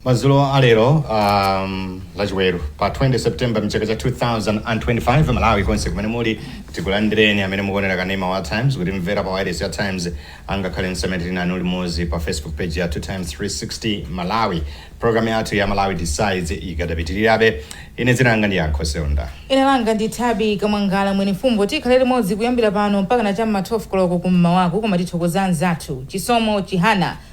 Madzulo a lero um, lachiweru pa 20 september mchaka cha 2025 malawi konse kumene muli tikulandireni amene mukuonera kanema wa times kutimvera pa wireless ya times angakhale msemetiri nanu limodzi pa facebook page ya times 360 malawi programu yathu ya malawi decides ikadapitirirabe ine dzina langa ndi yankho seunda ine langa ndi thabi kamwangala mwene mfumbo tikhale limodzi kuyambira pano mpaka na chamma 12 koloko kum'mawaku koma tithokoza anzathu chisomo chihana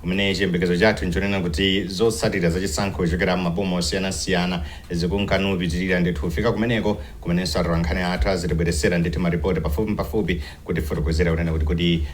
Kumene chiyembekezo chathu n'chonena kuti zotsatira za chisankho kuchokera m'maboma osiyanasiyana zikunka nkupitirira, ndithu kufika kumeneko kumenenso atolankhani athu azitibweretsera ndithu maripoti pafupimpafupi kutifotokozera kunena kuti kodi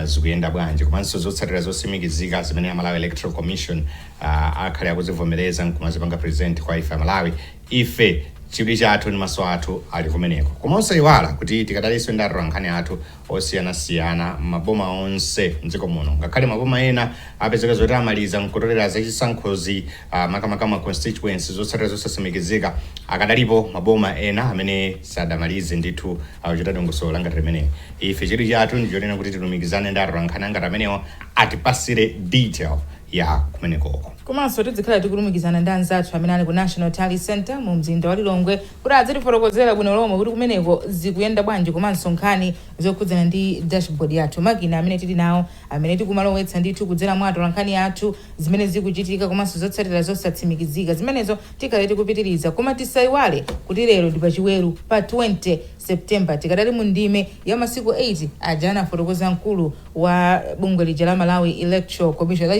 zikuyenda bwanji komanso zotsatira zotsimikizika zimene a Malawi Electoral Commission akhale akuzivomereza n'kumazipanga present kwa ife Amalawi, ife chidwi chathu ndi maso athu ali kumeneko. Koma osaiwala kuti tikadalinso ndi atolankhani athu osiyanasiyana m'maboma onse m'dziko muno ngakhale maboma ena apezeka zoti amaliza nkutolera za chisankhozi ah, makamaka ma constituency zotsatira zosasimikizika akadalipo maboma ena amene sadamalize ndithu akuchita dongosolo langati limeneli ife chidwi chathu ndichonena kuti tilumikizane ndi atolankhani angati amenewo atipatsire detail ya kumenekoko komanso tidzikhala tikulumikizana ndi anzathu amene ali ku national tally center mu mzinda wa lilongwe kuti adzitifotokozera bwino lomwe kuti kumeneko zikuyenda bwanji komanso nkhani zokhudzana ndi dashboard yathu, makina amene tili nawo amene tikumalowetsa ndithu kudzera mwa atolankhani athu zimene zikuchitika komanso zotsatira zosatsimikizika zimenezo tikhale tikupitiriza koma tisaiwale kuti lero ndi pachiweru pa 20 September tikadali mu ndime ya masiku 8 aja anafotokoza mkulu wa bungwe lija la Malawi Electoral Commission.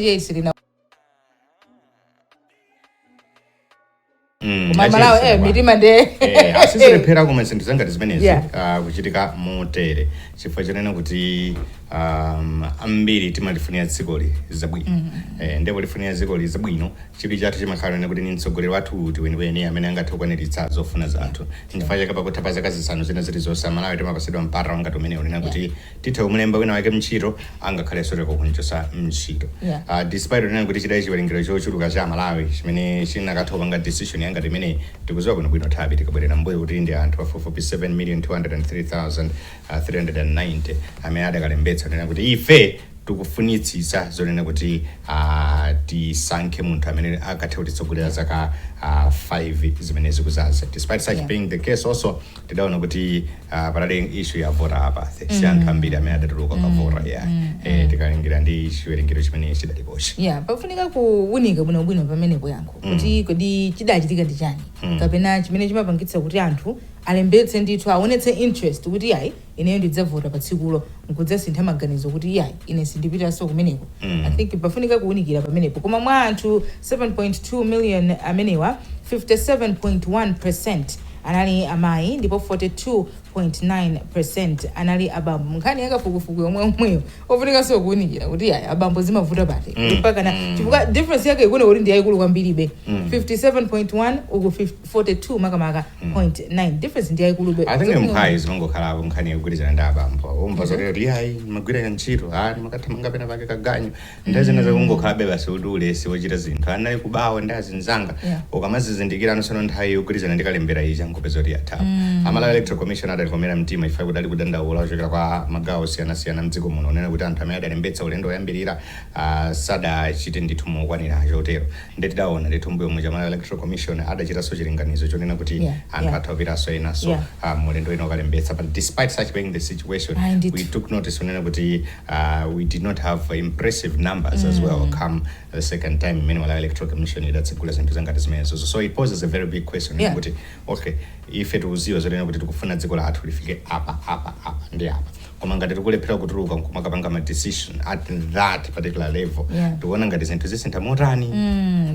Mm, koma malawi achiyese eh, bwana. mitima nde Eh, sizilephera kuma zinthu zangati zimenezi Yeah. ah, kuchitika motere chifukwa chonena kuti um, ambiri timalifunira dzikoli zabwino eh, nde polifunira dzikoli zabwino chidwi chathu chimakhala kunena kuti ni mtsogoleri wathu uti weniweni amene angathe kukwaniritsa zofuna zathu chifukwa chake pakutha pa zaka zisanu zina zilizonse amalawi timapasidwa mpata wangati umenewu kunena kuti tithe kumulemba wina wake mntchito angakhalenso teroko kumchosa mntchito Yeah. uh, despite kunena kuti chidali chiwerengero chochuluka cha amalawi chimene chinakatha kupanga decision yangati imeneyi tikuziwa bwinobwino thabi tikabwerera mbuyo kuti ndi anthu pafupifupi 7 million 203390 amene adakalembetsa kunena kuti ife tikufunitsitsa zonena kuti uh, tisankhe munthu amene akathe kutitsogolera zaka uh, 5 zimene zikuzaza despite such Yeah. being the case also tidaona kuti uh, panali issue ya voter apathy si mm. anthu ambiri amene adatuluka kukavota mm. yeah. mm. eh, tikalingira ndi chiwerengero chimene chidalipochi yeah, pafunika kuwunika bwinobwino pamenepo yankho mm. kuti kodi chidachitika ndi chani mm. kapena chimene chimapangitsa kuti anthu alembetse ndithu aonetse interest kuti ayi ineyo ndidzavota pa tsikulo nkudzasintha maganizo kuti iyayi ine sindipitanso kumeneko i think pafunika kuwunikira pamenepo koma mwa anthu 7.2 million amenewa 57.1 percent anali amayi ndipo 42.9 percent anali abambo nkhani yakafukufuku yomweyomweyo ofunikanso kuwunikira kuti iyayi abambo zimavuta pati mpakana chifukwa difference yake ikuoneka kuti ndi yayikulu kwambiribe 57.1 uku 50 42 makamaka point nine difference ndi yaikulube I think mphwayi zimangokhalapo nkhani yogwirizana ndi abambo umva zoti kuti iyayi amagwira ntchito amakathamanga pena pake kaganyu ndi zina zakungokhalabe basi kuti ulesi wochita zinthu anali kubawa ndi azinzanga Yeah. akamadzazindikira anasemphana nthawi yogwirizana ndi kalembera ija nkupeza kuti yatha pomwe a malawi electoral commission adalikomera mtima ife kuti kudali kudandaula kuchokera kwa magawo osiyanasiyana mdziko muno onena kuti anthu amene adalembetsa ulendo woyambirira ah, sadachite ndithu mokwanira chotero nde tidawona ndithu mbuyomuja a Malawi Electoral Commission adachitanso chilinganizo chonena kuti Yeah, anthu yeah. atha kupitanso enanso Yeah. ah, mu ulendo wina kukalembetsa but despite such being the situation Ayi, ndithu. we took notice onena kuti uh, we did not have impressive numbers as well come the second time imene Malawi Electoral Commission idatsegula zinthu zangati zimenezo so it poses a very big question Yeah. kuti okay ife tikudziwa zonena kuti tikufuna dziko lathu lifike apa apa apa ndi apa koma ngati tikulephera kutuluka nkumakapanga ma decision at that particular level Yeah. tikuona ngati zinthu zisintha motani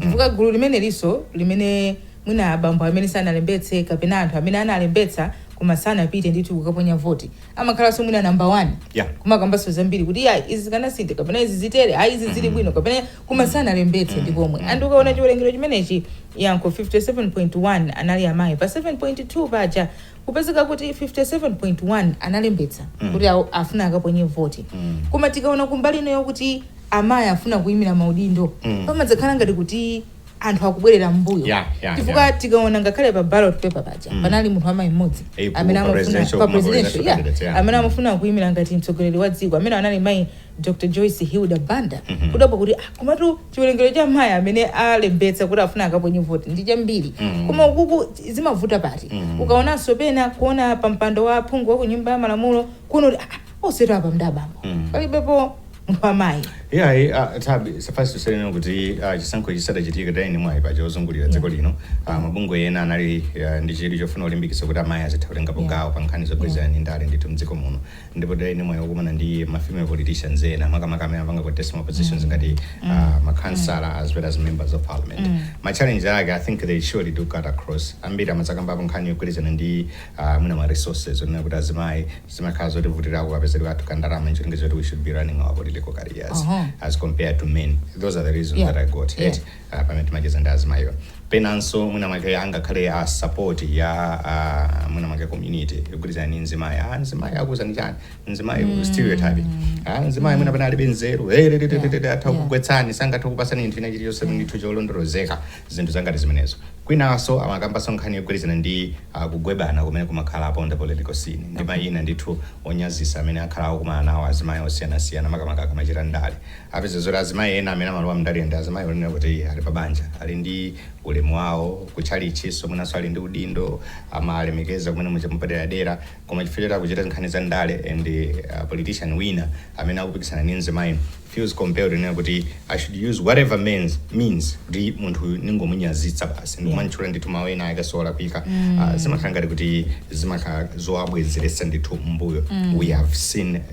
chifukwa gulu limeneliso limene mwina abambo amene sanalembetse kapena anthu amene analembetsa koma sanapite ndithu kukaponya voti amakhalanso mwina namba 1 Yeah. kumakambanso zambiri kuti ya izi zikanasintha kapena izi zitere ayi izi zili bwino kapena koma sanalembetse nkomwe and ukaona chiwerengero chimenechi yankho 57.1 anali amayi pa 7.2 paja kupezeka kuti 57.1 analembetsa kuti afuna akaponye voti koma tikaona kumbali ino yokuti amayi afuna kuyimira maudindo pamadzakhala ngati kuti anthu akubwerera mbuyo Yeah, yeah, chifukwa yeah. tikaona ngakhale pa ballot paper paja panali munthu amayi mmodzi Eh, ku- amene pa amafuna presidential- pa ku presidential presidential yeah, candidate, yeah. amene amafuna kuyimira ngati mtsogoleri wa dziko amene anali mayi dr joyce hilda banda kudapo kuti ah, komatu chiwerengero cha amayi amene alembetsa kuti afuna akaponye voti ndi chambiri mm. koma ukuku zimavuta pati mm. ukaonanso pena kuona pa mpando wa phungu wa ku nyumba ya malamulo kuona kuti ah, onsetu apa mdabambo mm. palibepo munthu wamayi yeah, yeah, uh, tabi suffice to say kunena kuti uh, chisankho chisadachitika tidali ndi mwayi paja wozungulira dziko lino uh, mabungwe ena anali uh, ndi chidwi chofuna kulimbikitsa kuti amayi azitha kutengapo Yeah. gawo pa nkhani zogwirizana ndi ndale ndithu mdziko muno ndipo tidali ndi mwayi wokumana ndi ma female politicians ena makamaka amene amapanga contest ma positions ngati uh, ma councillor as well as members of parliament ma challenge ake i think they surely do cut across ambiri amadzakambapo nkhani yogwirizana ndi uh, mwina ma resources onena kuti azimayi zimakhala zotivutirako kapezedwe kathu ka ndalama ncholinga choti we should be running our political careers Uh-huh. as compared to men those are the reasons Yeah. that i got Yeah. Eti, ah, pamene timacheza ndi azimayiwa penanso mwina mwake angakhale a support ya ah, mwina mwake community yogwirizana ndi mzimayi ah, mzimayi akuuzani chani mzimayi mm. stereotype ah, mzimayi mwina pena alibe nzeru hey, lili, lili, lili, atha yeah. kugwetsani sangatha kupatsani chinthu china chilichonse ndithu cholondolozeka zinthu zangati zimenezo kwinanso amakambanso nkhani yogwirizana ndi ah, kugebana kumene kumakhala apo on the political scene ndi mayina ndithu onyazisa amene akhala akukumana nawo azimayi osiyanasiyana makamaka akamachita ndale apeza zoti azimayi ena amene amalowa mndale ndi azimayi onena kuti ali pa banja ali ndi ulemu wawo kutchalitchinso mwinanso ali ndi udindo amalemekezeka mmene muja mwapaderadera koma chifukwa choti akuchita nkhani za ndale and uh, politician wina amene akupikisana ndi mzimayi feels compelled kunena kuti i should use whatever means, means kuti munthu uyu ndingomunyazitsa basi ndikumantchula ndithu mawu ena ake solakwika Ah, zimakhala ngati kuti zimakhala zowabwezeretsa ndithu mbuyo we have seen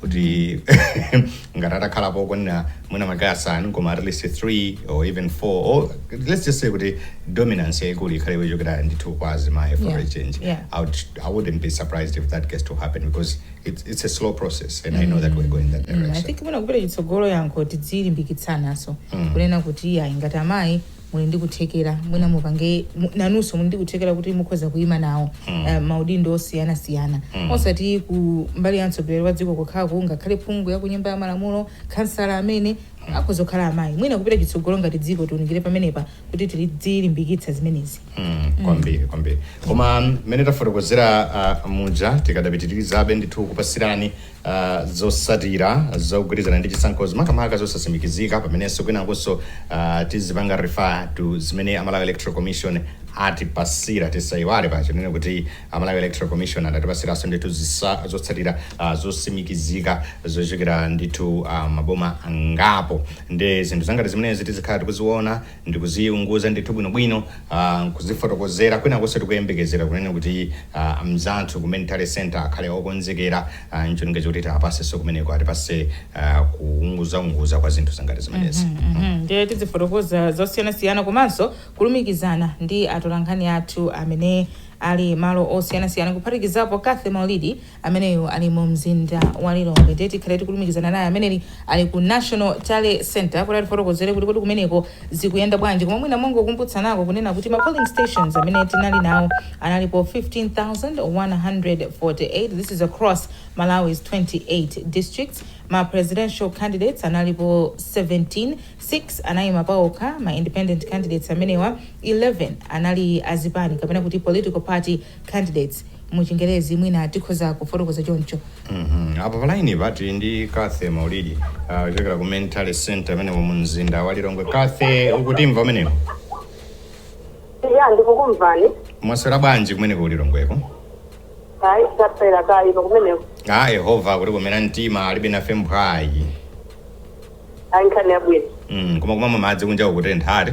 kuti ngati atakhalapo okwanira mwina makaya asanu koma at least 3 or even 4 or let's just say kuti dominance yaikulu ikhale yochokera ndithu kwa azimayi for Yeah, a change yeah. I, would, i wouldn't be surprised if that gets to happen because it's, it's a slow process and i know that we're going that Mm, i direction think mwina kupita chitsogolo yankho tidzilimbikitsananso kunena kuti ayi ngati amayi muli ndi kuthekera mwina mupange mu- nanunso muli ndi kuthekera kuti mukhoza kuima nawo eh, maudindo osiyanasiyana osati ku mbali ya mtsogoleri wa dziko kokhaku ngakhale phungu ya ku nyumba ya malamulo khansala amene akhoza kukhala amayi mwina kupita chitsogolo ngati dziko tiunikire pamenepa kuti tidzilimbikitsa zimenezi Mm, kwambiri kwambiri koma mmene tafotokozera uh, muja tikadapitirizabe ndithu kupatsirani Uh, zotsatira zogwirizana ndi chisankhozi makamaka zosatsimikizika pamenenso kwinakunso uh, tizipanga refer to zimene a Malawi electoral commission atipatsira tisayiwale paja ponena kuti a Malawi electoral commission adatipatsiranso ndithu zisa- zotsatira uh, zotsimikizika zochokera ndithu uh, maboma angapo ndi zinthu zangati zimenezi tizikhala tikuziona ndikuziunguza ndithu bwinobwino uh, nkuzifotokozera kwinakunso tikuyembekezera kunena kuti uh, mzathu ku main tally center akhale okonzekera uh, ncholinga choti tiwapezenso kumeneko atipatse uh, kuunguzaunguza kwa zinthu zangati zimenezi mm -hmm. mm -hmm. ndiye tizifotokoza zosiyanasiyana komanso kulumikizana ndi atolankhani athu amene ali malo osiyanasiyana kuphatikizapo Cathy Maulidi ameneyo ali mu mzinda wa Lilongwe ndiye tikhale tikulumikizana naye amene ali ku National Tally Center kuti atifotokozere kuti kodi kumeneko zikuyenda bwanji koma mwina mongokumbutsanako kunena kuti ma polling stations amene tinali nawo analipo 15,148 this is across Malawi's 28 districts ma presidential candidates analipo 17 6 anayima paokha ma independent candidates amenewa 11 anali azipani kapena kuti political party candidates mu chingerezi mwina tikhoza kufotokoza choncho. Mhm. Apa palaini pa tili ndi Cathy Maulidi ah, kuchokera ku tally Center kumeneko mu mzinda wa Lilongwe. Cathy, ukutimva kumeneko? ya ndikukumvani Mwaswera bwanji kumeneko ku Lilongweko? ayi taswera kaya kumeneko Ah, Yehova kutikomera mtima alibe nafe mphwayi. ayi nkhani yabwino Mm, koma kumamwa madzi kunja kukutenthatu.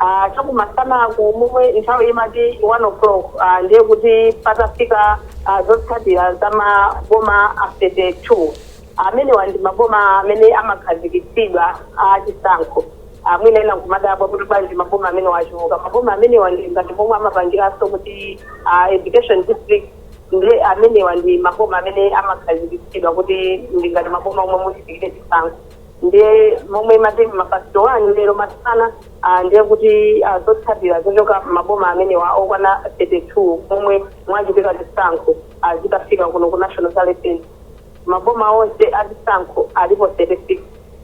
Ah, chakumasanaku momwe nthawi imati 1 o'clock ah, ndiye kuti patafika ah, zotsatira za maboma a 32 amenewa ndi maboma amene amakhazikitsidwa a chisankho Ah, mwina ena nkumadabwa kuti bwanji maboma amenewa achuluka maboma amenewa ndi ngati momwe amapangiranso kuti ah, education district ndiye amenewa ndi maboma amene amakhazikitsidwa kuti ndi ngati maboma omwe muchitikire chisankho ndiye momwe imati mapasiti wani lero masana ah, ndiye kuti ah, zotsatira zochoka maboma amenewa okwana 32 momwe mwachitika chisankho ah, zitafika kuno ku national tally center maboma onse achisankho alipo 36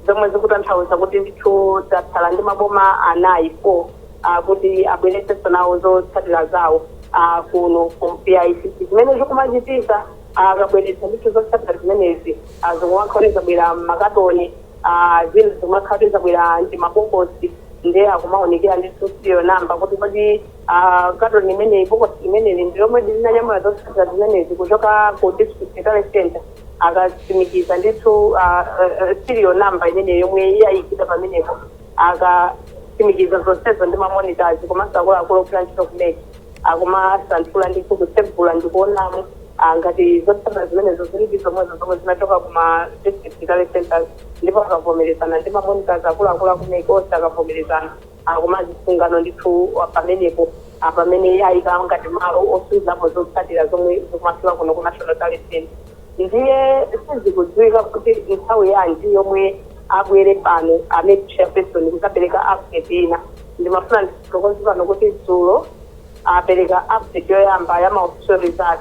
zomwe zikutanthauza kuti ndithu tatsala ndi maboma anayi 4 ah, kuti abweretsenso nawo zotsatira zawo ah, kuno ku BICC zimene zikumachitika Akabweretsa ndithu zotsatira zimenezi zikumakhala kuti zabwera m'makatoni a zina zikumakhala kuti zabwera m'timabokosi ndiye akumaunikira ndithu serial number kuti kodi a katoni imeneyi bokosi limeneli ndi lomwedi linanyamula zotsatira zimenezi kuchoka ku district tally center akatsimikiza ndithu a serial number imeneyo yomwe yayikidwa pamenepo akatsimikiza zonsezo ndi ma monitors komanso akuluakulu ogwira ntchito ku mec. akumasanthula ndithu kutsegula ndikuonamo ah, ngati zotsatira zimenezo zilidi zomwezo zomwe zinachoka kuma district tally centers ndipo akavomerezana ndi mamonitors akuluakulu akumeki onse akavomerezana akumazisunga no ndithu ah, pamenepo ah, pamene ayika ngati malo osungapo zotsatira zomwe zikumafika kuno ku national tally center ndiye sizikudziwika kuti nthawi yanji yomwe abwere pano a MEC chairperson kudzapereka update ina ndimafuna ndifotokoze pano kuti dzulo apereka update yoyamba ya maofficial result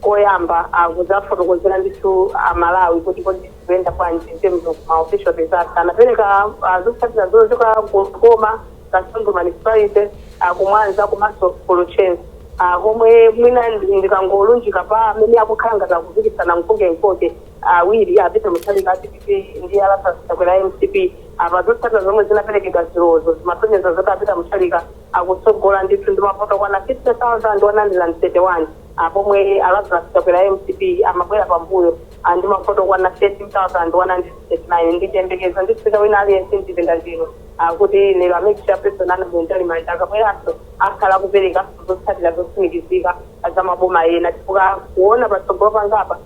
koyamba kudzafotokozera ndithu amalawi kuti kodi zikuyenda bwanji in terms of ma official results anapereka ah, zotsatira zochoka ku Likoma kasungu municipality ah, kumwanza komanso ku Luchenza ah, komwe mwina ndi- ndikangolunjika pa amene akukhala ngati akupikisana mkoke mkoke awiri a Peter Mutharika a dpp ndi a Lazarus Chakwera a mcp. Apa zotsatira zomwe zinaperekedwa dzulozo zimasonyeza zoti a Peter Mutharika akutsogola ndithu ndi mavoti okwana 50,131 a pomwe a Lazarus Chakwera a mcp amabwera pambuyo a ndi mavoti okwana 13,139. Ndi chiyembekezo ndithu cha wina aliyense mchipinda chino a kuti lero a Mec Chairperson a Annabel Mtalimanja akabweranso akhala akupereka zotsatira zotsimikizika za maboma ena chifukwa kuona patsogolo pangapa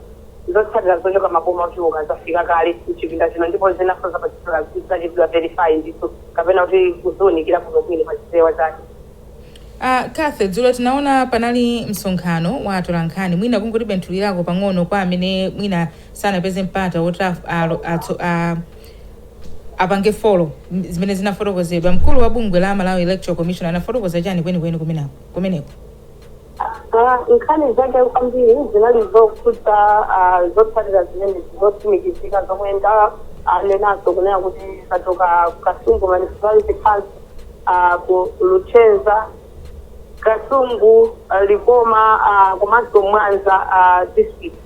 Zotsatira zochoka maboma ochuluka zafika kale m'chipinda chino ndipo zinanso zapatsidwa zachitidwa verify ndithu kapena kuti kuziunikira bwino bwino pa chipewa chake. Cathy, dzulo tinaona panali msonkhano wa atolankhani, mwina kungoti benthulirako pang'ono kwa amene mwina sanapeze mpata woti apange folo zimene zinafotokozedwa. Mkulu wa bungwe la Malawi Electoral Commission anafotokoza chani kwenikweni kumeneko? kumeneko? Ah, nkhani zake kwambiri zinali zokhudza ah, zotsatira zimenezi zotsimikizika zomwe ndanenazo kunena kuti zachoka ku kasungu municipality council ah, ku luchenza kasungu ah, likoma ah, komanso mwanza ah, district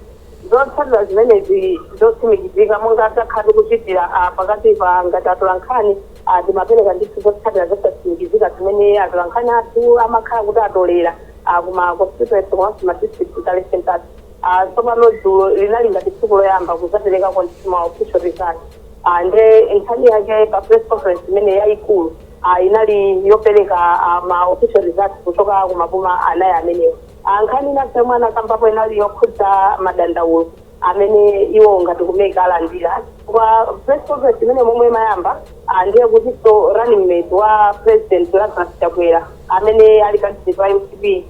Zotsatira zimenezi zotsimikizika, monga takhala tikuchitira a pakatipa ngati atolankhani a timapereka ndithu zotsatira zosatsimikizika zimene atolankhani athu amakhala kuti atolera a ku ma constituency komanso ma district tally centres. A tsopano dzulo linali ngati tsiku loyamba kudzaperekako ndithu ma official results a nde nkhani yake pa press conference imene yayikulu a inali yopereka a ma official results kuchoka ku maboma anayi amenewo. a Nkhani ina yomwe anakambapo inali yokhudza madandaulo amene iwowo ngati ku mec alandira chifukwa press conference imene momwe imayamba ah, ndiye kutinso running mate wa president Lazarus Chakwera amene ali candidate wa mcp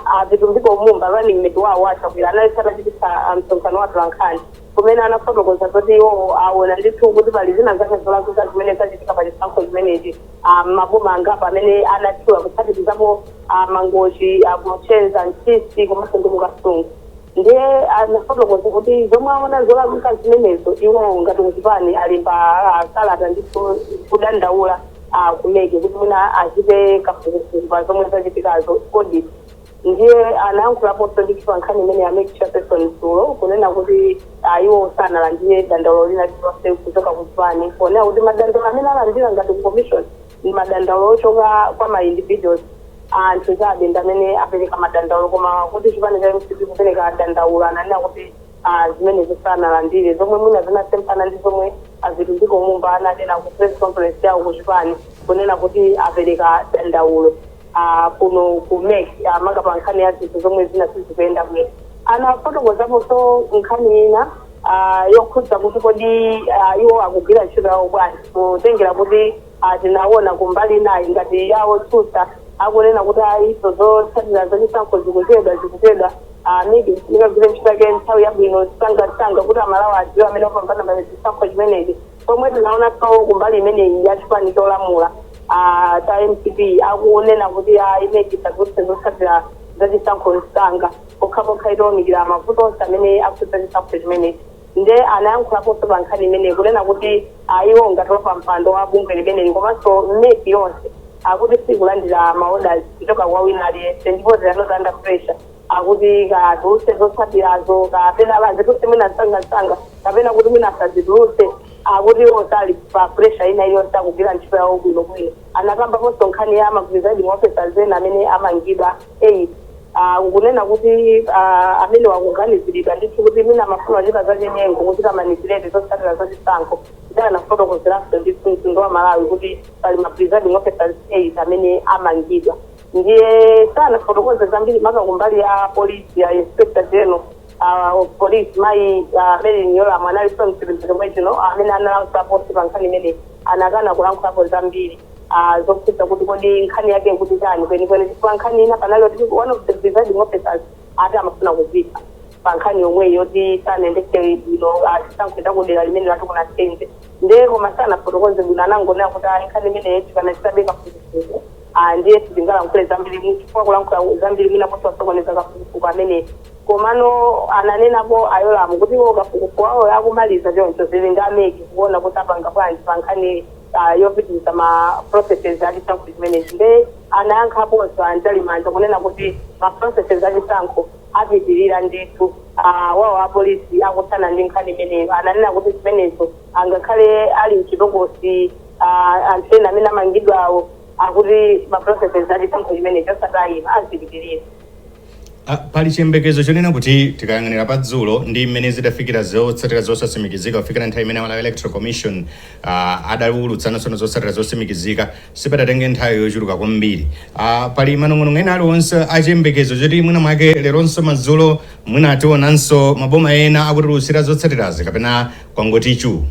a Vitumbiko Mumba running mate wawo wa Chakwera anali atachititsa ah, msonkhano wa atolankhani kumene anafotokoza zoti iwowo aona ndithu kuti pali zina zake zolakwika zimene zachitika pa chisankho chimenechi a m'maboma angapo amene anatchula kuphatikizapo a Mangochi, a Luchenza, Ntchisi komanso ndi ku Kasungu. Ndiye anafotokoza kuti zomwe aona zolakwika zimenezo iwo ngati kuchipani alemba ah, kalata ndithu kudandaula ah, ku mec kuti mwina achite kafukufuku pa zomwe zachitikazo audit. Ndiye anayankhulaponso ndithu pa nkhani imeneyi a Mec Chairperson dzulo kunena kuti a iwo sanalandire dandaulo lina lililonse kuchoka ku chipani ponena kuti madandaulo amene alandira ngati ku Commission ndi madandaulo ochoka kwa ma individuals, anthu chabe, ndi amene apereka madandaulo koma kuti chipani cha mcp kupereka dandaulo ananena kuti. a zimenezo sanalandire, zomwe mwina zinasemphana ndi zomwe a Vitumbiko Mumba ananena ku press conference yawo ku chipani kunena kuti apereka dandaulo a kuno ku mec a makamaka pa nkhani ya zinthu zomwe zina sizikuyenda bwino. Anafotokozaponso nkhani ina a yokhudza kuti kodi a, iwo akugwira ntchito yawo bwanji kutengera kuti a, tinaona kumbali inayi ngati ya otsutsa akunena kuti ayi zotsatira zachisankho zikuchedwa zikuchedwa Mec igwire ntchito yake nthawi yabwino msangamsanga kuti amalawi adziwe amene wapambana pa chisankho chimenechi pomwe tinaonanso kumbali imeneyi ya chipani cholamula ah, cha mcp akunena kuti ah, mec isatulutse zotsatira za chisankho msanga pokhapokha itawunikira mavuto onse amene akhudza chisankho chimenechi Nde anayankhulaponso pa nkhani imeneyi kunena kuti a iwo ngati wapampando wa bungwe limeneli komanso mec yonse akuti siikulandira ma orders kuchoka kwa wina aliyense ndipo they are not under pressure akuti kaya atulutse zotsatirazo kapena azitulutse mwina msangamsanga kapena kuti mwina asazitulutse akuti iwo sali pa pressure ina iliyonse akugwira ntchito yawo bwinobwino. Anakambaponso nkhani ya ma presiding officers ena amene amangidwa. 8 kunena kuti amenewa akuganiziridwa ndithu kuti mwina amafuna kuchita zachinyengo kuchita manipulate zotsatira za chisankho ndipo anafotokozeranso ndithu mtundu wa malawi kuti pali ma presiding officers 8 amene amangidwa ndiye sanafotokoze zambiri maka kumbali ya polisi ya inspector general uh, of police mayi uh, merlyne yolamu analinso mchipinda momwe chino amene analankhulaponso pa nkhani imene anakana kulankhulapo zambiri ah, zokhudza kuti kodi nkhani yake ndi yoti chani kwenikweni chifukwa nkhani ina panali kuti one of the presiding officers ati amafuna kuzipha pa nkhani yomweyi yoti sanayendetse bwino chisankho cha kudera limene lati kuna sente nde koma sanafotokoze bwino anangonena kuti ayi nkhani imeneyo tikanachitabe kafukufuku Ah, ndiye sitingalankhule zambiri mu- chifukwa kulankhula zambiri mwina kutha kusokoneza kafukufuku amene komano ananenapo a Yolamu kuti iwo kafukufuku wawo akumaliza choncho zili ndi a mec kuona kuti apanga bwanji pa nkhani ah, yopitiriza ma processes a chisankho chimenechi nde anayankhaponso a Mtalimanja kunena kuti ma processes a chisankho apitirira ndithu ah, pamene apolisi akuthana ndi nkhani imeneyo ananena kuti zimenezo angakhale ali mchitokosi ah, anthu ena amene amangidwawo akuti ma processes a chisankho chimenechi osatayima azipitirira Ah, pali chiyembekezo chonena kuti tikayang'anira pa dzulo ndi mmene zidafikira zotsatira zosatsimikizika kufikira nthawi imene malawi electoral commission ah, adawulutsa tsono zotsatira zotsimikizika sipadatenge nthawi yochuluka kwambiri Ah, pali manong'onong'o ena aliwonse achiyembekezo choti mwina mwake leronso madzulo mwina tionanso maboma ena akutiulutsira zotsatirazi kapena kwangoti chuu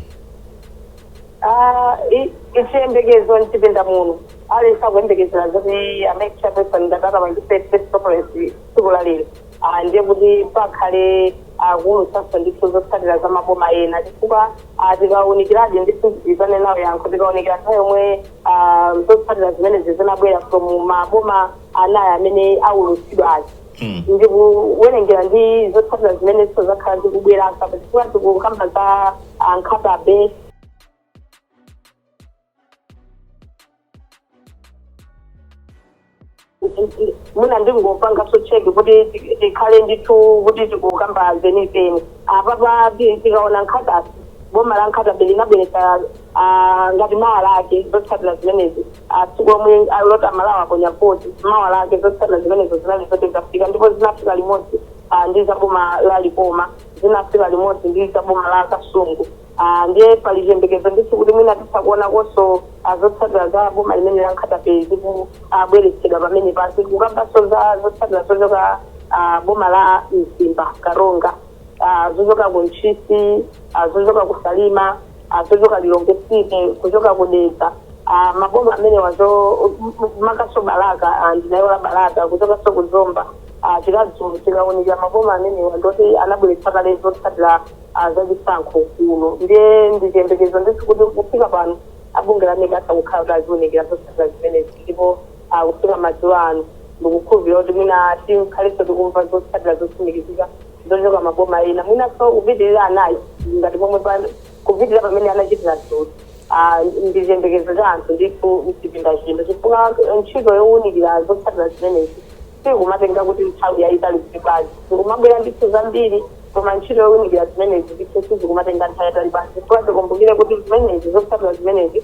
Ah, n- nchiyembekezo mchipinda muno aliyense akuyembekezera zoti amayi chairperson ngati angapangitse press conference tsiku la lero Ah, ndiye kuti pakhale akuulutsanso ndithu zotsatira za maboma ena chifukwa ah, tikaunikira Dean ndithu ndidzanena nalo yankho tikaunikira nthawi yomwe ah, zotsatira zimenezi zinabwera zoyamba maboma anayi amene aulutsidwa aja ndikuwerengera ndi zotsatira zimenenso zakhala zikubwera apa chifukwa tikukamba za ah, Nkhata Bay mwina ndingopangaso cheki kuti ti- tikhale ndithu kuti tikukamba zenizeni apapa ti- tikaona Nkhata Bay boma la Nkhata Bay linabweretsa ah, ngati mawa lake zotsatira zimenezi a tsiku lomwe loti amalawi aponya voti mawa lake zotsatira zimenezo zinali zoti zafika ndipo zinafika limodzi ah, ndi za boma la likoma zinafika limodzi ndi za boma la kasungu Ah, ndiye pali chiyembekezo ndithu kuti mwina titha kuonakonso ah, zotsatira za boma limeneli la Nkhata Bay zikubweretsedwa pamene pasakukambanso za zotsatira zochoka ah, boma la mzimba karonga ah, zochoka ku ntchisi ah, zochoka ku salima ah zochoka Lilongwe City, zochoka ku Dedza, ah, maboma amenewa komanso Balaka, ah, ndinaiwala Balaka, kuchokanso ku Zomba, ah, tika- tikaunikira maboma amenewa ndoti anabweretsa kale zotsatira ah, za chisankho kuno ndiye ndichiyembekezo ndithu kuti kufika pano abunge la MEC akukhala kuti aziunikira zotsatira zimenezi ndipo ah, kufika madzulo ano ndikukhulupirira kuti mwina tikhalenso tikumva zotsatira zotsimikizika zochoka maboma ena mwinanso kupitirira anayi ngati momwe pa- kupitirira pamene anachitira dzulo Ah, ndi chiyembekezo cha anthu ndithu mchipinda chino chifukwa ntchito yowunikira zotsatira zimenezi sikumatenga kuti nthawi yayitali zifukwa zikumabwera ndithu zambiri koma ntchito yowunikira zimenezi ndithu sizikumatenga nthawi yayitali basi chifukwa tikumbukire kuti zimenezi zotsatira zimenezi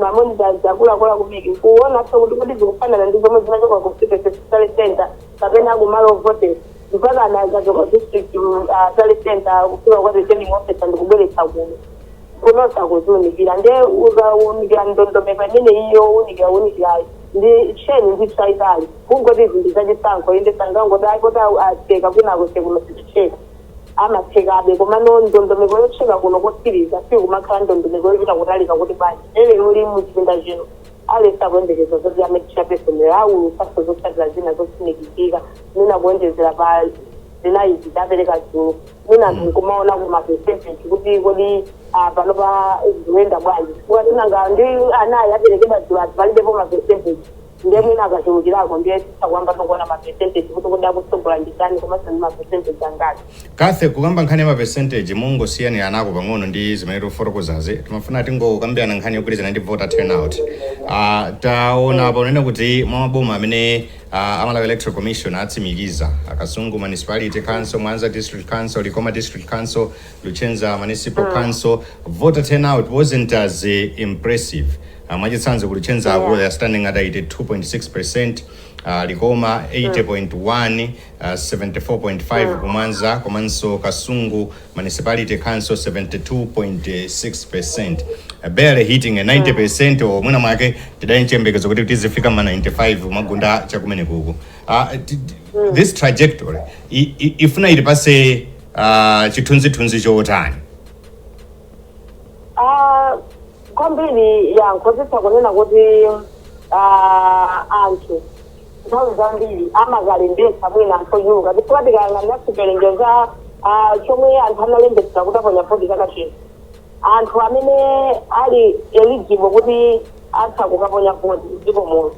mamonitor akuluakulu ku MEC kuonanso kuti kodi zikufanana ndi zomwe zinachoka ku constituency tally center kapena kumalo ovotera mpaka zinadzachoka ku district mm, ah, tally center kufika kwa returning officer ndikubweretsa kuno kunonso kuziunikira nde ukaunikira ndondomeko imene iyo unikira unikirayo ndi cheni ndithu chachitali kungoti zinthu zachisankho inde sangangoti ayi kuti acheka kwinako nde kuno siticheka amachekabe komano ndondomeko yocheka kuno kotsiriza sikumakhala ndondomeko yochita kutalika kuti bwanji lero lino mu chipinda chino aliyense akuyembekeza zoti amayi chairperson lero awulutsanso zotsatira zina zotsimikizika mwina kuonjezera pa zinayi adapereka dzulo mwina anthu nkumaona ku mapesentensi kuti kodi ah, panopa zikuyenda bwanji chifukwa tinangoona ndi anayi aperekedwa dzulo aja palibepo mapesentensi nde mwina akachulukirako ndiye titha kuamba tokuona ma percentage kuti kodi akutsogola ndi ndani komanso ndi ma percentage angati. Kathy, kukamba nkhani ya ma percentage mungosiyaniranako pang'ono ndi zimene tikufotokozazi. Timafuna tingokambirana nkhani yogwirizana ndi voter turnout. Uh, taona apa unene kuti mwa maboma amene uh, a Malawi Electoral Commission atsimikiza Kasungu Municipality Council, Mwanza District Council, Likoma District Council, Luchenza Municipal Council voter turnout wasn't as eh, impressive. Uh, mwachitsanzo ku Luchenza yeah. they are standing at 82.6%, uh, Likoma 80.1, uh, 74.5 ku Mwanza, komanso Kasungu Municipality Council 72.6%. Uh, barely hitting a 90% or mwina mwake tidali chiyembekezo kuti tizifika ma 95 magunda chakumene kuku. Uh, t- t- this trajectory i- i- ifuna itipase uh, chithunzithunzi chotani Ah, kwambiri yankho nditha kunena kuti ah, anthu nthawi zambiri amakalembetsa mwina anthu ochuluka chifukwa tikayang'anira chiwerengero cha ah, chomwe anthu analembetsa kuti aponya voti chaka chino Anthu amene ali eligible kuti atha kukaponya voti mdziko muno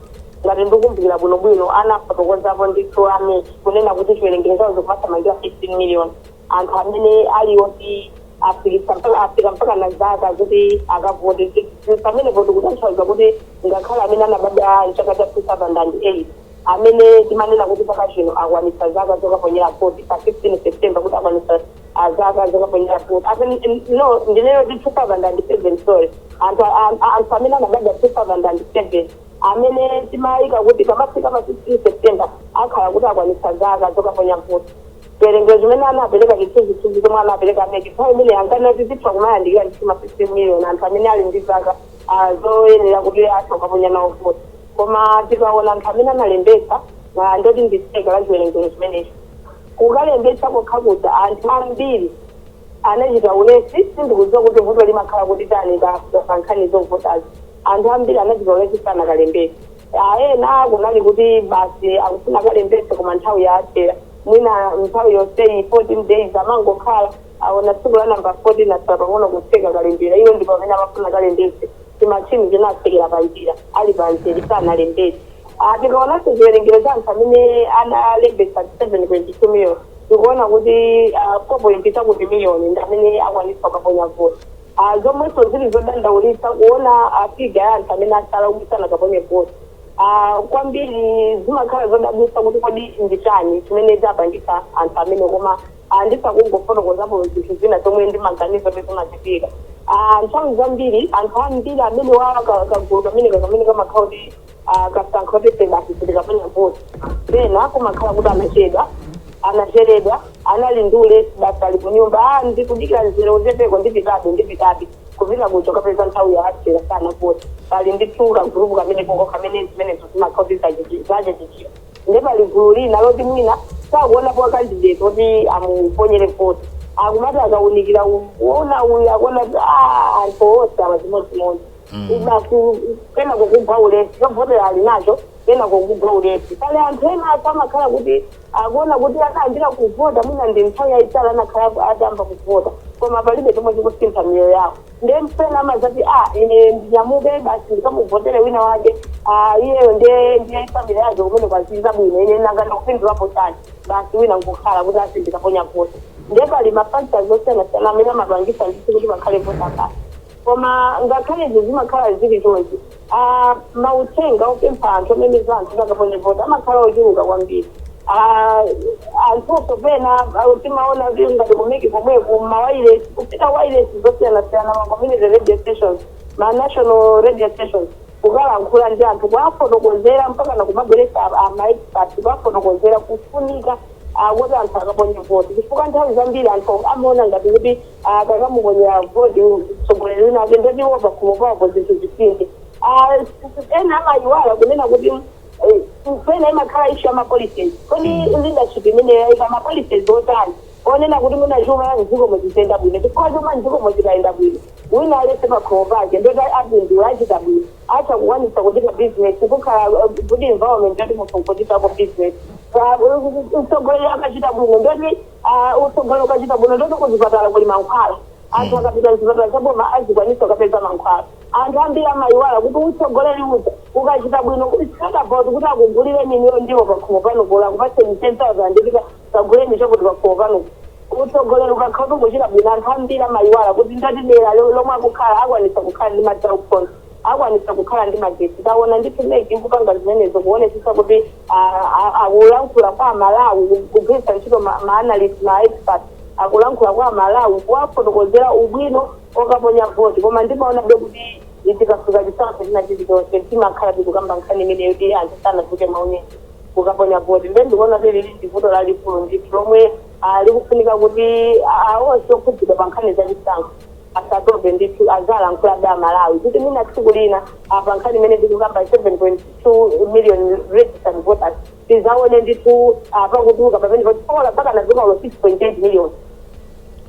ngati ndikumbukira bwino bwino anafotokozapo ndithu a mec kunena kuti chiwerengero chawo chikumathamangira 15 million anthu amene ali oti afikitsa mpaka afika msinkhu wa zaka zoti akavote Ndi pamenepo tikutanthauza kuti ngakhale amene anabadwa mchaka cha 2008 amene timanena kuti chaka chino akwanitsa zaka zokaponyera voti pa 15 september kuti akwanitsa azaka zokaponyera voti ati n- no ndineyo ndi 2007 sorry anthu a- a- a- anthu amene anabadwa 2007 amene timayika kuti pomafika pa 16 september akhala kuti akwanitsa zaka zokaponya voti chiwerengero chimene anapereka chithunzithunzi chomwe anapereka a mec nthawi imeneyo ankanena kuti zitha kumayandikira ndithu ma 15 million anthu amene ali ndi zaka ah, zoyenera kuti atha kukaponya nawo voti koma tikaona anthu amene analembetsa na ndi oti ndi theka la chiwerengero chimenechi Kukalembetsa kokha kuja anthu ambiri anachita ulesi, sindikudziwa kuti vuto limakhala kuti tani pa pa nkhani zovotazi. Anthu ambiri anachita ulesi sanakalembetse. A ena kunali kuti basi akufuna akalembetse koma nthawi yawathera. Mwina nthawi yonseyi 14 days amangokhala, aona tsiku la number 14 atsala pang'ono kutseka kalembera, iwo ndi pamene amafuna akalembetse. Timatchini tinatsekera panjira ali pamzere sanalembetse. a Tikaonanso chiwerengero cha anthu amene analembetsa 7.2 million tikuona kuti 4 point chakuti million ndi amene akwanitsa kukaponya voti a zomwenso zili zodandaulitsa kuona a figure ya anthu amene atsala kuti sanakaponye voti. a Kwambiri zimakhala zodabwitsa kuti kodi ndi chani chimene chapangitsa anthu amene koma ah, nditha kungofotokozapo zinthu zina zomwe ndimaganiza kuti zimachitika Ah, nthawi zambiri anthu ambiri amene wa ka- kagulu kameneka kamene kamakhala kuti ah, kasankha kuti basi asakaponye voti pena kumakhala kuti anachedwa anachereredwa anali ndi ulesi basi ali kunyumba ah, ndikudikira mzere uchepeko ndipitabe ndipitabe kupita kuja kukapeza nthawi yawathera sanavote pali ndithu kagulupu kameneko kamene zimenezo zimakhala kuti zachitika nde pali gulu lina loti mwina sakuonapo a candidate oti amuponyere voti akumati akaunikira u- uona uyu akuona kuti "Ah, anthu onse awa chimodzimodzi basi kenako kugwa ulesi chovotera ali nacho kenako kugwa ulesi pali anthu ena apo amakhala kuti akuona kuti anayambira kuvota mwina ndi nthawi yayitali anakhala atayamba kuvota koma palibe chomwe chikusintha miyoyo yawo nde mpena amazati a ine ndinyamuke basi ndikamuvotele wina wake ah, iyeyo nde ndiye family yake kumene azidya bwino ine nanga ndikupindulapo chani basi wina nkukhala kuti ah sindikaponya voti nde pali mafactors osiyanasiyana amene amapangisa ndithu kuti pakhale voter apathy koma ngakhale izi zimakhala zili chonchi a Mauthenga opempha anthu, omemeza anthu kuti akaponye voti amakhala ochuluka kwambiri. a Anthunso pena a timaona kuti ngati ku mec komweku, m'mawailesi, kupita wailesi zosiyanasiyana, ma community radio stations, ma national radio stations, kukalankhula ndi anthu, kuwafotokozera mpakana kumabweretsa a a ma experts kukafotokozera kufunika a koti anthu akaponye voti. Chifukwa nthawi zambiri anthu amaona ngati kuti. akakamuponyera voti mtsogoleri wina ake ndoti iwo pakhomo pawo zinthu zisinthe Ah, ena amayiwala kunena kuti eh, pena imakhala issue ya mapolicies kodi leadership imene yaika mapolicies otani onena kuti mwina chuma cha mdzikomu chiziyenda bwino chifukwa chuma mdzikomu chikayenda bwino wina aliyense pakhomo pake ndoti apindula achita bwino atha kukwanisa kuchita business kukhala eh, good environment yoti munthu nkuchitako business mtsogoleri akachita bwino ndoti Ah, utsogoleli ukachita bwino ndoti kuzipatala kuli mankhwala anthu akapita mzipatala zaboma azikwanisa kukapeza mankhwala anthu ambiri amayiwala kuti utsogoleli uja ukachita bwino it's not about kuti akugulireni inuyo ndiwo pakhomo panupo olo akupatseni 10000 ndipita kaguleni chakuti pakhomo pano utsogoleli ukakhala kuti ukuchita bwino anthu ambiri amayiwala kuti ndoti dera lo- lomwe akukhala akwanisa kukhala ndi madzi aukhondo akwanitsa kukhala ndi magetsi. Tawona ndithu mec ikupanga zimenezo kuwonetsetsa kuti akulankhula kwa amalawi kugwiritsa ntchito ma ma analyst ma expert akulankhula kwa amalawi kuwafotokozera ubwino okaponya vote koma ndimawonabe kuti tikafika chisankho china chilichonse timakhala tikukamba nkhani imeneyo yoti anthu sanatuluke mwaunyinji kukaponya vote nde ndikuwona kuti ili ndi vuto lalikulu ndithu lomwe likufunika kuti onse okhudzidwa pa nkhani za chisankho asatope ndithu aziwalankhulabe amalawi kuti mwina tsiku lina pa nkhani imene tikukamba 7.2 million registered voters tizaone ndithu apa kutuluka pamene patikola mpakana mwina olo 6.8 million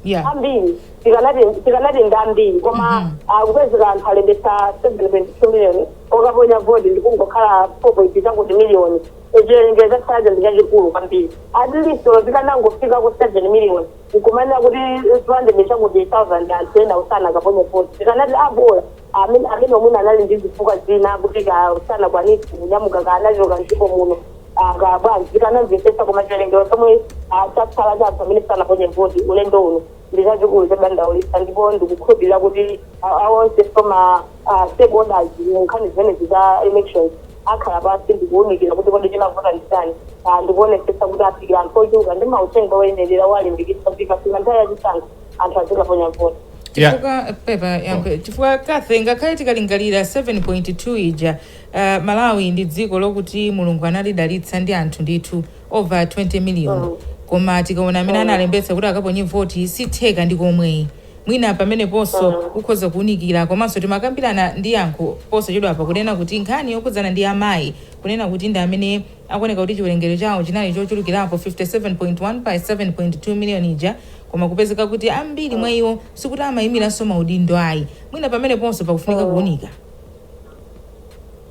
yeah ambiri tikanati tikanati ndi ambiri koma kupezeka anthu alembetsa 7.2 million okaponya voti ndikungokhala 4.2 chakuti million chiwerengero chaja ndi chachikulu kwambiri at least olo tikanangofika ku 7 million Nkumanena kuti zimandimisha ku ndi thousand anthu ena sanakaponye voti tikanati a bola amene amenewo mwina anali ndi zifukwa zina kuti kaya sanakwanitse kunyamuka kaya anachoka mdziko muno ah, kaya bwanji tikanamvetsetsa koma chiwerengero chomwe ah, chatsala cha anthu amene sanaponye voti ulendo uno ndi chachikulu chodandaulitsa ndipo ndikukhulupirira kuti ah, ah, onse oti ma ah, stakeholders mu nkhani zimenezi za elections akhala pansi ndi kuunikira kuti kodi chinavuta ndi chani ah, ndi kuonetsetsa kuti afikira anthu ochuluka ndi mauthenga oyenerera owalimbikitsa kuti ikafika nthawi ya chisankho anthu azikaponya voti Yeah. chifukwa pepa Yankho chifukwa Kathy ngakhale tikalingalira 7.2 ija uh, Malawi ndi dziko lokuti Mulungu analidalitsa ndi anthu ndithu over 20 million koma tikaona amene analembetsa kuti akaponye voti si theka ndi komweyi Mwina pameneponso kukhoza kuunikira komanso timakambirana ndi Yankho posachedwapa kunena kuti nkhani yokhudzana ndi amayi kunena kuti ndi amene akuoneka kuti chiwerengero chawo chinali chochulukirapo 57.1 pa 7.2 miliyoni ija koma kupezeka kuti ambiri mwa iwo sikuti amaimiranso maudindo ayi. Mwina pameneponso pakufunika kuunika.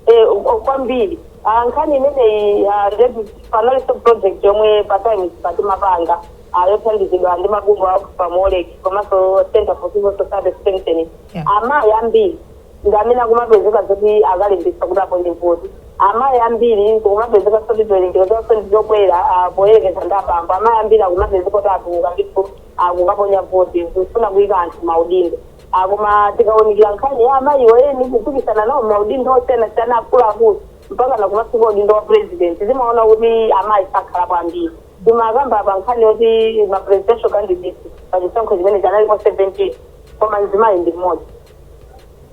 Eh, kwa- kwambiri Ah, nkhani imeneyi ah, ndinati panalinso project yomwe pa Times pano timapanga ah, yothandizidwa ndi mabungwe a Oxfam WOLREC komanso Center for Civil Society Strengthening Yeah. amayi ambiri ndi amene akumapezeka zoti akalembetsa kuti aponye voti amayi ambiri kukumapezeka zoti chiwerengero chawo ndi chokwera ah, poyerekeza ndi abambo amayi ambiri akumapezeka kuti atuluka ndithu akukaponya voti kufuna kuyika anthu maudindo a Koma tikaunikira nkhani ya amayiwo eni kupikisana nawo m'maudindo osiyanasiyana akuluakulu mpakana kumafika udindo wa president timaona kuti amayi sakhalapo ambiri. Timakamba apa nkhani yoti ma presidential candidates pa chisankho chimenechi analipo 17 koma mzimayi ndi mmodzi.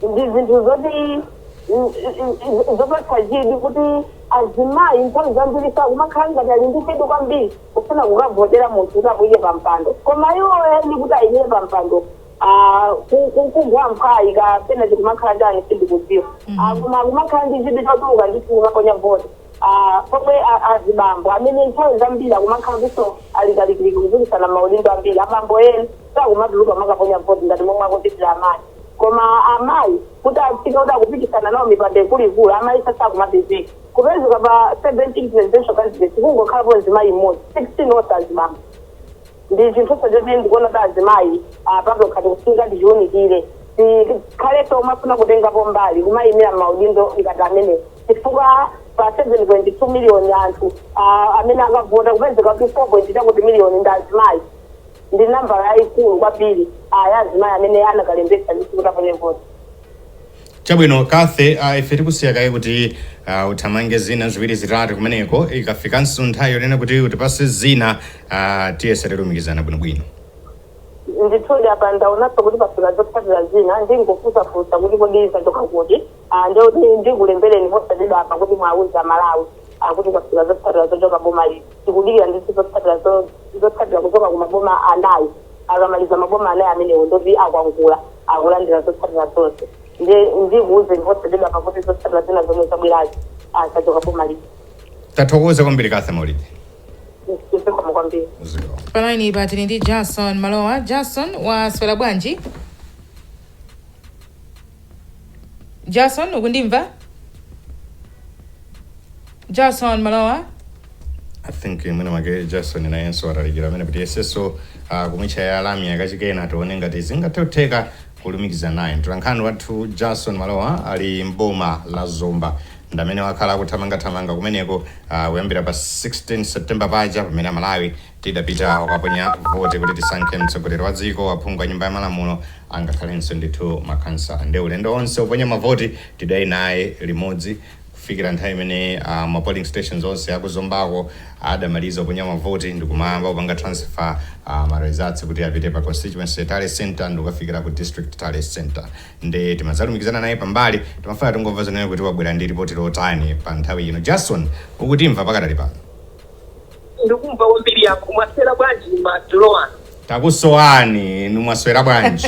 Ndi zinthu zoti zi- zopatsa chidwi kuti azimayi nthawi zambiri sakumakhala ngati ali ndi chidwi kwambiri kufuna kukavotera munthu kuti amuyike pa mpando koma iwo eni kuti ayimire pa mpando Aaa ku kugwa mphwayi kapena chikumakhala chani sindikudziwa Aaa Mhm. koma kumakhala ndi chidwi chotuluka ndithu kukaponya voti Aaa pomwe a- azibambo amene nthawi zambiri akumakhala ndinso ali kalikiliki kupikisana maudindo ambiri abambo eni sakumatuluka kumakaponya voti ngati momwe akuchitira amayi koma amayi kuti afike kuti akupikisana nawo mipando ikuluikulu amayi sakumapezeka kupezeka pa 17 presidential candidates kungokhalapo mzimayi mmodzi 16 onse azibambo. ndi chinthuso chomwe ndikuona kuti azimayi patokha tikufunika tichiunikire tikhalenso omafuna kutengapo mbali kumayimira maudindo ngati amene chifukwa pa 7.2 miliyoni anthu ah, amene akavota kupezeka kuti 4.2 chakuti miliyoni ndi azimayi ndi nambala yayikulu kwambiri ah, ya azimayi amene anakalembetsa ndithu kuti aponye voti chabwino Cathy uh, ife tikusiya kaye kuti uh, uthamange zina ziwiri zitatu kumeneko ikafikanso nthawi yonena kuti utipase zina uh, tiyese tilumikizana bwinobwino ndithudi apa ndaonanso kuti pafika zotsatira zina ndingofunsafunsa kuti kodi zachoka kuti Ah, nde kuti ndikulembereni posachedwa apa kuti muwauze Amalawi ah, kuti pafika zotsatira zochoka boma liti tikudikira ndithu zotsatira zo- zotsatira kuchoka ku maboma anayi akamaliza maboma anayi amenewo ndoti akwangula akulandira zotsatira zonse ndiye ndikuwuzeni posachedwapa kuti zotsatira zina zomwe zabwerazi zachoka boma liti tathokoza kwambiri Cathy Maulidi zikomo kwambiri zikomo palaini pano tili ndi jason malowa jason waswera bwanji jason ukundimva Jason Malowa. I think mwina mwake Jason nayenso atalikira koma tiyesenso uh, kumutchaya lamya kachikena tione ngati zingathe kutheka kulumikiza naye mtolankhani wathu Jason Malowa ali mboma la Zomba ndamene wakhala akuthamangathamanga kumeneko uh, kuyambira pa 16 September paja pamene Amalawi tidapita kukaponya vote kuti tisankhe mtsogoleri wa dziko aphungu a nyumba ya malamulo angakhalenso ndithu makhansala ndi ulendo onse uponya mavoti tidali naye limodzi kufikira nthawi imene ma polling stations onse aku Zombako adamaliza kuponya mavoti ndikumayamba kupanga transfer a ma results kuti apite pa constituency tally centre ndikukafikira ku district tally centre nde timadzalumikizana naye pambali timafuna tingomvako zonena kuti wabwera ndi ripoti lotani pa nthawi ino Jason ukutimva pakadali pano ndikumva kwambiri yankho mwaswera bwanji madzulo ano takusowani inu mwaswera bwanji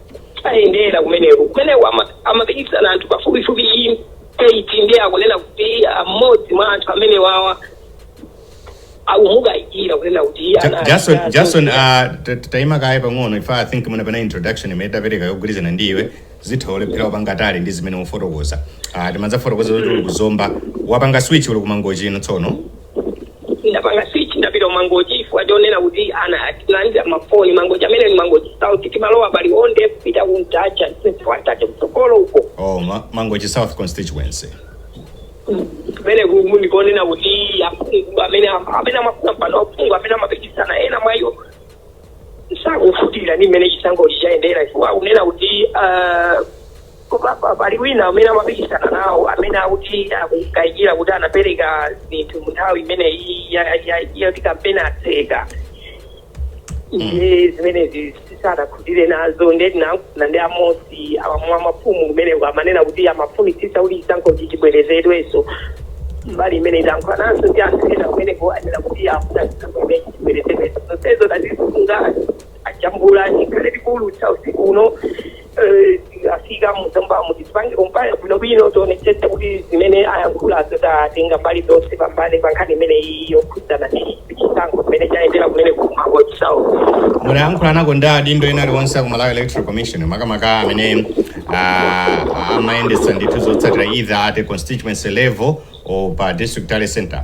ayendera kumeneko kumeneko ama- amapikisana anthu pafupifupi iyi eight ndi akunena kuti mmodzi mwa anthu amenewawa akumukayikira kunena kuti iye Ja- ana- jason ana- jason ah, ta- ta- taima kaye pang'ono ife i think mwina pa introduction imene tapereka yogwirizana ndi iwe zitha kulephera kupanga tally ndi zimene ufotokoza Ah, timadzafotokoza zoti uli kuzomba wapanga switch uli kumangochi ino tsono ndapanga switch ndapita kumangochi chifukwa chonena kuti tinalandira mafoni mangochi amene ni mangochi south timalowa pali onde kupita kumtacha kwatache kutsogolo uko oh ma, mangochi south constituency kumene kumu ndikonena kuti aphungu amene amene amafuna mpano aphungu amene amapikisana ena mwa iwo sakukhutira ni mmene chisankho chayendera chifukwa kunena kuti ah, koma pa- pali wina amene amapikisana nawo amene akuti akukayikira kuti anapereka zinthu mu nthawi imene iyi ya- ya- yoti kampeni atseka ndiye zimenezi sadakhutire nazo ndiye tinayankhulana ndi amodzi mwa mafumu kumeneko amanena kuti amafunitsitsa kuti chisankhochi chibwerezedwenso mbali imene tidayankhulananso ndi anthu ena kumeneko anena kuti afuna chisankho chimenechi chibwerezedwenso zonsezo tazisunga tajambula tikhale tikuulutsa usiku uno eh, afika mu Zomba muti tipange compile bwinobwino tionetsetse kuti zimene ayankhulazo tatenga mbali zonse pambali pa nkhani imene iyi yokhudzana ndi chisankho mmene chayendera kumene ku Mangochi South munayankhula nako ndi adindo ena aliwonse aku malawi electoral commission makamaka amene ah, amayendetsa ndithu zotsatira either at a constituency level or pa district tally center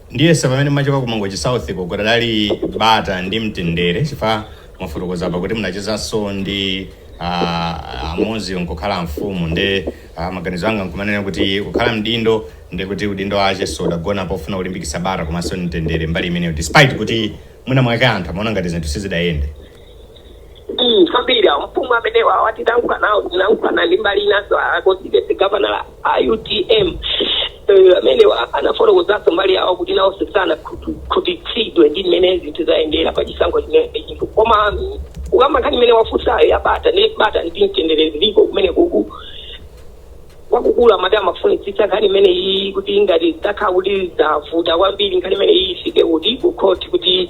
Ndiyesa mmene mumachoka ku Mangochi South ko kudadali bata ndi mtendere chifukwa mwafotokoza apa kuti munachezanso ndi a mmudzi nkukhala amfumu nde ah, maganizo anga nkumanena kuti kukhala mdindo nde kuti udindo wakenso udagona pofuna kulimbikitsa bata komanso mtendere mbali imeneyo despite kuti mwina mwake anthu amaona ngati zinthu sizidayende Mm, kwambiri awo mfumu amenewa titalankhula nawo tinankhulana ndi mbali inanso a constituency governor a utm Eh, amenewa anafotokozanso mbali yawo kuti nawonso sanakhutitsidwe ndi mmene zinthu zayendera pa chisankho chimenechi koma mm, ukamba nkhani imene wafunsayo yabata ndi bata ndi mtendere ziliko kumene kuku kwakukulu amati amafunitsitsa nkhani imene iyi kuti ngati zitakhala kuti zavuta kwambiri nkhani imene iyi ifike kuti kukhoti kuti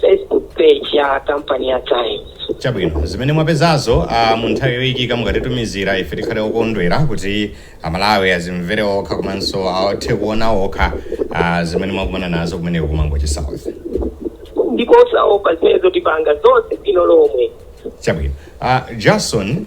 Facebook page ya kampani ya Times. chabwino zimene mwapezazo uh, mu nthawi yoyikika mukatitumizira ife tikhale okondwera kuti amalawi azimvere okha komanso athe kuona okha uh, zimene mwakumana nazo kumeneko kumangochi south Ndipo osaopa zimenezo tipanga zonse bwino lomwe. chabwino uh, jason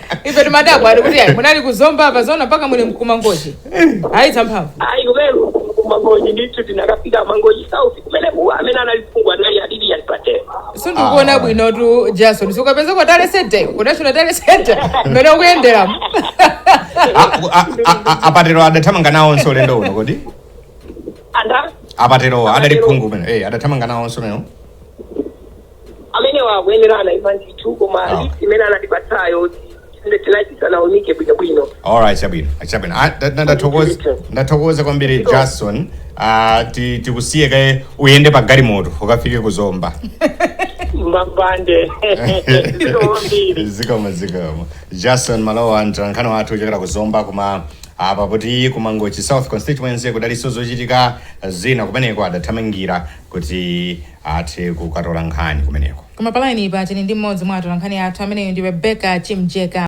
ife timadabwa ali kuti ayi munali ku Zomba apa zona mpaka muli ku Mangochi ayi zamphamvu ayi kumene ku Mangochi ndithu tinakafika Mangochi south kumene kuwa amene anali phungu anali a Lilian Patel sindikuona bwinotu jason zikupezeka ku tally center ku national tally center mmene zikuyenderamo a Patel adathamanga nawonso ulendo uno kodi anda a Patel-wo adali phungu amene eh, adathamanga nawonso lero amenewa akuyenera anaima ndithu koma Ah. list imene anatipatsayo inde tinati tisanaunike bwinobwino alright chabwino chabwino Ah, nda- nda- ndathokoza ndathokoza kwambiri jason Ah, ti- tikusiye kaye uyende pa galimoto ukafike ku zomba mbambande zikomo kwambiri zikomo zikomo jason malowa mtolankhani wathu wochokera ku zomba koma apa poti kumangochi south constituency kudaliso zochitika zina kumeneko adathamangira kuti Athe kukatola nkhani kumeneko. Koma palainipa tili ndi mmodzi mwa atolankhani athu, ameneyu ndi Rebecca Chimjeka.